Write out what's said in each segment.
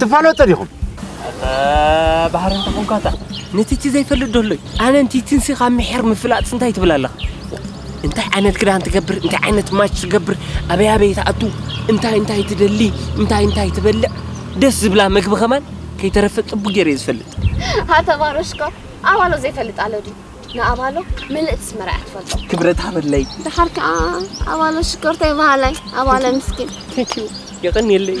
ትፋለጡ ዲኹም ባህሪ እንተ ኾንካታ ንቲቲ ዘይፈልጥ ዶሎ እዩ ኣነ ንቲትንሲ ካብ ምሕር ምፍላጥ እንታይ ትብል ኣለኻ እንታይ ዓይነት ክዳን ትገብር እንታይ ዓይነት ማች ትገብር ኣበይ ኣበይ ትኣቱ እንታይ እንታይ ትደሊ እንታይ እንታይ ትበልዕ ደስ ዝብላ ምግቢ ከማን ከይተረፈ ፅቡቅ ገይረ ዝፈልጥ ኣተባረሽኮ ኣባሎ ዘይፈልጥ ኣሎ ድዩ ንኣባሎ ምልእቲ ስመራ እያ ትፈልጦ ክብረት ሃበለይ ድሓር ከዓ ኣባሎ ሽኮርተይ በሃላይ ኣባለ ምስኪን ቴንኪዩ የቀንየለይ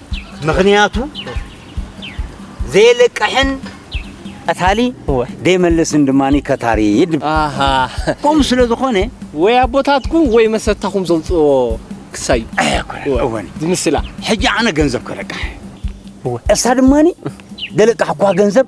ምኽንያቱ ዘየለቅሕን ቀታሊ ዘይመልስን ድማ ከታሪ ከምኡ ስለ ዝኾነ ወይ ኣቦታትኩም ወይ መሰታኹም ዘውፅእዎ ክሳዩ ዝምስላ ሕጂ ኣነ ገንዘብ ከለቅሕ እሳ ድማ ዘለቃሕኳ ገንዘብ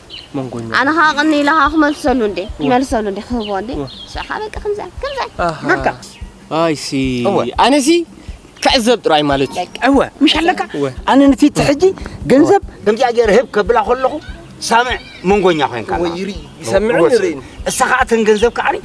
መንጎኛ ኣነ ኸዓ ቅኒ ኢለ ኸዓ ክመልሰሉ እንዴ ክመልሰሉ እንዴ ክህቦ እንዴ ንሱ ኸዓ በቃ ከምዚ ከምዚ በቃ ኣይሲ ኣነሲ ክዕዘብ ጥራይ ማለት እዩ እወ ምሽ ኣለካ ኣነ ንፊት ሕጂ ገንዘብ ከምዚኣ ገይረ ህብ ከብላ ከለኹ ሳምዕ መንጎኛ ኮይንካ ይሰምዕን ይርእን እሳ ኸዓ ተን ገንዘብ ከዓኒ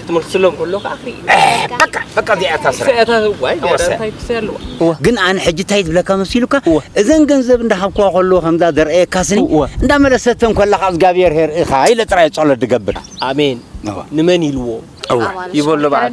ክትመልስሎም ከሎ ከዓ በቃ በቃ እዚኣ እታ ስራሕ ግን ኣነ ሕጂ እንታይ ዝብለካ መሲሉካ እዘን ገንዘብ እንዳሃብክዋ ከለዎ ከምዛ ዘርእየካስኒ እንዳመለሰተን ከለካ እግዚኣብሔር የርእኻ ኢለ ጥራይ ጸሎት ድገብር ኣሜን ንመን ኢልዎ ይበሎ በዓል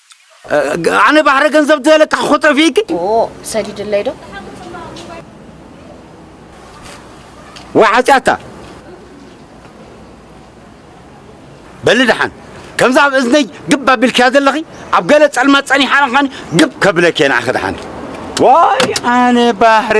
ኣነ ባሕሪ ገንዘብ ደለካ ክኾጠፊኪ ሰዲድለይ ዶ ወይ ሓጢኣታ በሊ ደሓን ከምዛ ኣብ እዝነይ ግብ ኣቢልክያ ዘለኺ ኣብ ገለ ጸልማት ጸኒሓ ኸን ግብ ከብለኪ እየ ንዓኺ ደሓን ዋይ ኣነ ባሕሪ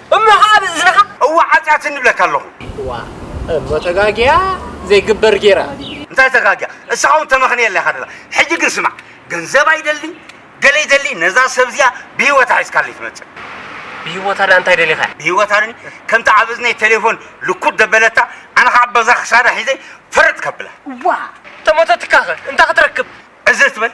እሞ ኸኣ ኣብ እዝንኻ እወ ሓጢኣትኒ እብለካ ኣሎኹ። እዋ እሞ ተጋግያ ዘይግበር ጌራ። እንታይ ተጋግያ እስኻ ውን ተመኽንየላ ኢኻ ደላ ሕጂ ግን ስማዕ ገንዘብ ኣይደሊ ገለ ይደሊ ነዛ ሰብ እዚኣ ብሂወታ ሒዝካለይ ትመጽእ። ብሂወታ ደኣ እንታይ ደሊኻ። ብሂወታ ድኒ ከምቲ ኣብ እዝነይ ቴሌፎን ልኩድ ደበለታ ኣነ ኸኣ በዛ ክሳዳ ሒዘ ፈረጥ ከብላ። እዋ እተሞተትካኸ እንታይ ክትረክብ። ዕዝር ትበል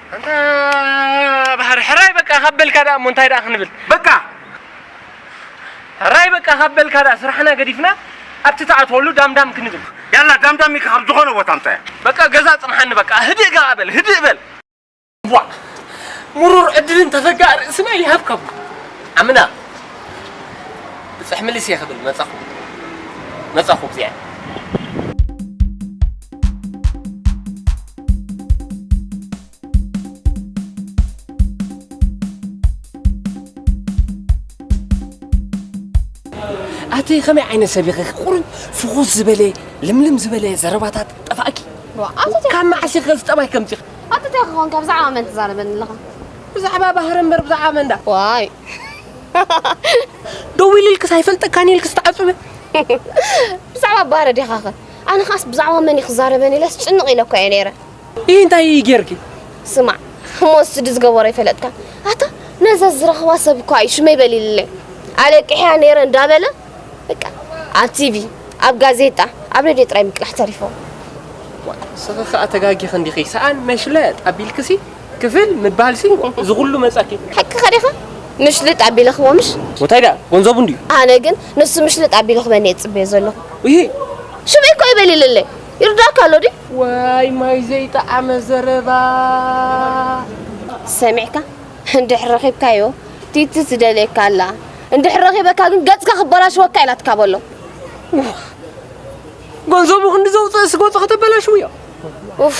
ኣንታ ባህሪ ሕራይ በቃ ካብ በልካ ደኣ እሞ እንታይ ደኣ ክንብል በቃ ሕራይ በቃ ካብ በልካ ደኣ ስራሕና ገዲፍና ኣብቲ ትኣትወሉ ዳምዳም ክንብል ያላ ዳምዳም ኢልካ ካብ ዝኾነ ቦታ ኣምፀያ በቃ ገዛ ፅንሓኒ በቃ ህድእ ከኣ በል ህድእ በል ቧዕ ምሩር ዕድልን ተፈጋእ ርእስና ይሃብከቡ ዓምና ብፅሕ ምልስ እየ ክብል መፃኹ መፃኹ ብዚዐ ኣቲ ከመይ ዓይነት ሰብ ኢኺ ቁሩብ ፍኹስ ዝበለ ልምልም ዝበለ ዘረባታት ጠፋእኪ ካብ መዓስ ኢኺ ዝጠባይ ከምዚ ኣቲ እንታይ ክኾንካ ብዛዕባ መን ትዛረበኒ ኣለኻ ብዛዕባ ባህሪ እምበር ብዛዕባ መን ዳ ዋይ ደው ኢልልክስ ኣይፈልጠካን ኢልክስ ተዓፅበ ብዛዕባ ባህረ ዲኻ ኸ ኣነ ኸዓስ ብዛዕባ መን እዩ ክዛረበኒ ኢለስ ጭንቕ ኢለ እኳ እየ ነይረ። ይህ እንታይ እዩ ጌርኪ? ስማዕ እሞ ንሱ ድዩ ዝገበሮ ኣይፈለጥካን? ኣታ ነዛ ዝረኽባ ሰብ እኳ እዩ ሽመይ በሊልለይ ኣለቂሕያ ነይረ እንዳበለ በቃ ኣብ ቲቪ ኣብ ጋዜጣ ኣብ ሬድዮ ጥራይ ምቅላሕ ተሪፎ። ስኺ ኸኣ ተጋጊኺ እንዲኺ ሰኣን መሽለጥ ኣቢልክሲ ክፍል ምባል ሲ እዚ ኩሉ መጻኪ። ሕቂ ከዲኻ ምሽልጥ ኣቢለ ክቦ ምሽ። ወታይ ድኣ ጎንዘቡ እንድዩ። ኣነ ግን ንሱ ምሽልጥ ኣቢሉ ክበኒ እየ ዝጽበዮ ዘለኹ። እሂ ሽምዒ እኮ ይበሊለለይ ይርድኣካ ኣሎ ድዩ። ዋይ ማይ ዘይጠዓመ ዘረባ። ሰሚዕካ እንድሕር ረኺብካዮ ቲቲ ትደልየካ ኣላ እንድሕር ረኺበካ ግን ገጽካ ክበላሽወካ እየ ናትካ በሎ። ጎንዘቡ ክንዲ ዘውጽእስ ገጹ ከተበላሽውዮ። ኡፍ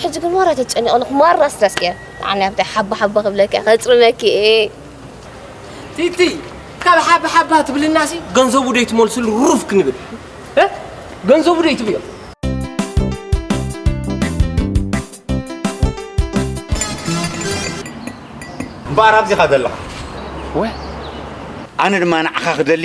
ሕጂ ግን ማራ ተጨኒቐ ኣለኹ ማራ ስትረስ እየ ንዓኒ ኣብቲ ሓባ ሓባ ክብለኪ ከፅርመኪ እየ ቲቲ ካብ ሓባ ሓባ ትብልናሲ ገንዘቡ ደይ ትመልስሉ ሩፍ ክንብል ገንዘቡ ደይ ትብዮ እምበኣር ኣብዚኻ ዘለኻ ወይ ኣነ ድማ ንዓኻ ክደሊ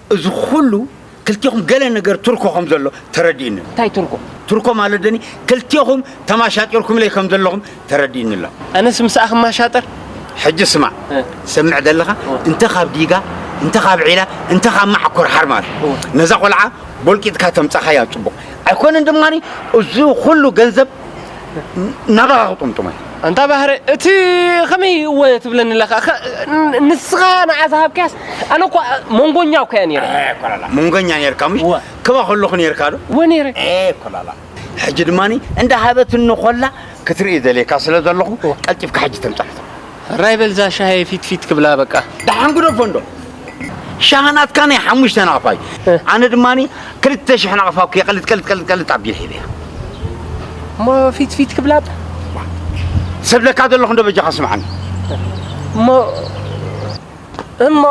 እዚ ኹሉ ክልቴኹም ገለ ነገር ትርኮ ከም ዘሎ ተረዲኡኒ ኣሎ። እንታይ ትርኮ? ትርኮ ማለት ደኒ ክልቴኹም ተማሻጢርኩምለይ ከም ዘለኹም ተረዲኡኒ ኣሎ። ኣነስ ምሳኣ ክማሻጥር? ሕጂ ስማዕ፣ ትሰምዕ ዘለኻ እንተ ካብ ዲጋ፣ እንተ ካብ ዒላ፣ እንተ ካብ ማዓኮር ሓርማዝ ነዛ ቆልዓ ቦልቂጥካ ተምጻኻያ ጽቡቕ ኣይኮነን። ድማ እዚ ኹሉ ገንዘብ ናባኻ ክጥምጥሞ እዩ ኣንታ ባህረ እቲ ከመይ እወ ትብለኒ ኣለካ ንስኻ ንዓ ዝሃብካያስ ኣነ እኳ መንጎኛ እኳ እያ ነይረ መንጎኛ ነርካ ምሽ ክባ ከለኹ ነርካ ዶ ወ ነይረ ኮላላ ሕጂ ድማ እንዳሃበትኒ ኮላ ክትርኢ ዘልየካ ስለ ዘለኹ ቀልጢፍካ ሕጂ ተምፅሓቶ ሕራይ በል እዛ ሻሂ ፊት ፊት ክብላ በቃ። ደሓን ግደፎ እንዶ ሻሂ ናትካ ናይ ሓሙሽተ ናቕፋ እዩ ኣነ ድማ ክልተ ሽሕ ናቕፋ እኮ ቀልጥ ቀልጥ ቀልጥ ቀልጥ ኣቢለ ሒበያ እሞ ፊት ፊት ክብላ እባ ሰብለካ ዘለኹ እንዶ በጃኻ ስምዓኒ እሞ እሞ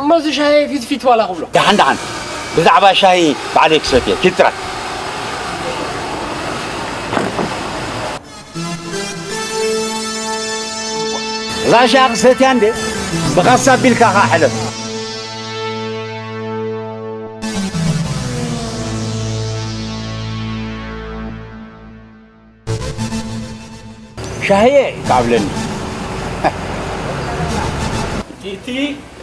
እሞ እዚ ሻሂ ፊት ፊት ዋላ ክብሎ ደሓን ደሓን ብዛዕባ ሻሂ ባዕለይ ክሰትየ ኪድ ጥራይ ራሻ ክሰትያ እንዴ ብካሳ ኣቢልካ ከኣ ሕለፍ። ሻህየ ከኣ ኣብለኒ። ቲቲ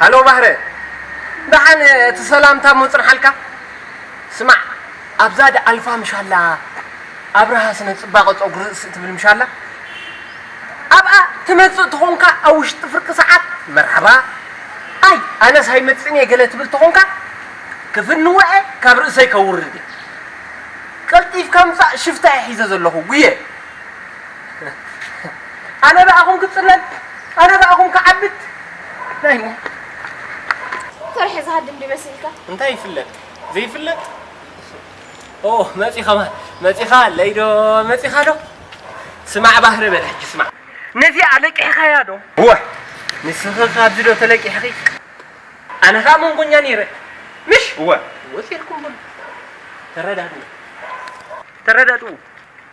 ሃሎ ማህረ ዳሓን እቲ ሰላምታ እሞ ጽንሓልካ ስማዕ ኣብዛ ድኣልፋ ምሽ ኣላ ኣብርሃ ስነ ጽባቀ ጸጉሪ ርእሲ ትብል ምሽ ኣላ ኣብኣ ትመጽእ ተኾንካ ኣብ ውሽጢ ፍርቂ ሰዓት መርሓባ ኣይ ኣነስ ኣይመጽእን እየ ገለ ትብል ተኾንካ ክፍንወዐ ካብ ርእሰይ ከውርድ እየ ቀልጢፍካ ምጻእ ሽፍታ እየ ሒዘ ዘለኹ ጉየ ኣነ ብኣኹም ክጽለል ኣነ ብኣኹም ክዓብድ ናይ ሞት ተርሐ ዝሃድም ዲዩ መሲልካ። እንታይ ይፍለጥ ዘይፍለጥ ኦ መጺ ከማን መጺኻ ኣለይ ዶ መጺኻ ዶ ስማዕ ባህሪ በል ሕጂ ስማዕ ነዚኣ ለቂሕኻያ ዶ እወ ንስኺ ካብዚ ዶ ተለቂሕኺ ኣነ ከኣ መንጎኛ ነይረ ምሽ እወ ወሲልኩም በሉ ተረዳድኡ ተረዳድኡ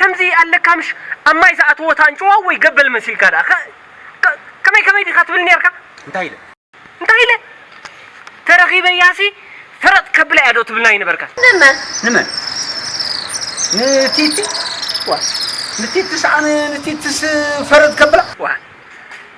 ከምዚ ኣለካ ምሽ ኣብ ማይ ዝኣተወት ኣንጭዋ ወይ ገበል መሲልካ ደኣ ከ ከመይ ከመይ ዲካ ትብል ኔርካ እንታይ ኢለ እንታይ ኢለ ተረኪበያሲ ፈረጥ ከብላ እያ ዶ ትብል ኣይነበርካን። ንመን ንመን ንቲቲ ዋ ንቲትስ ኣነ ንቲትስ ፈረጥ ከብላ ዋ።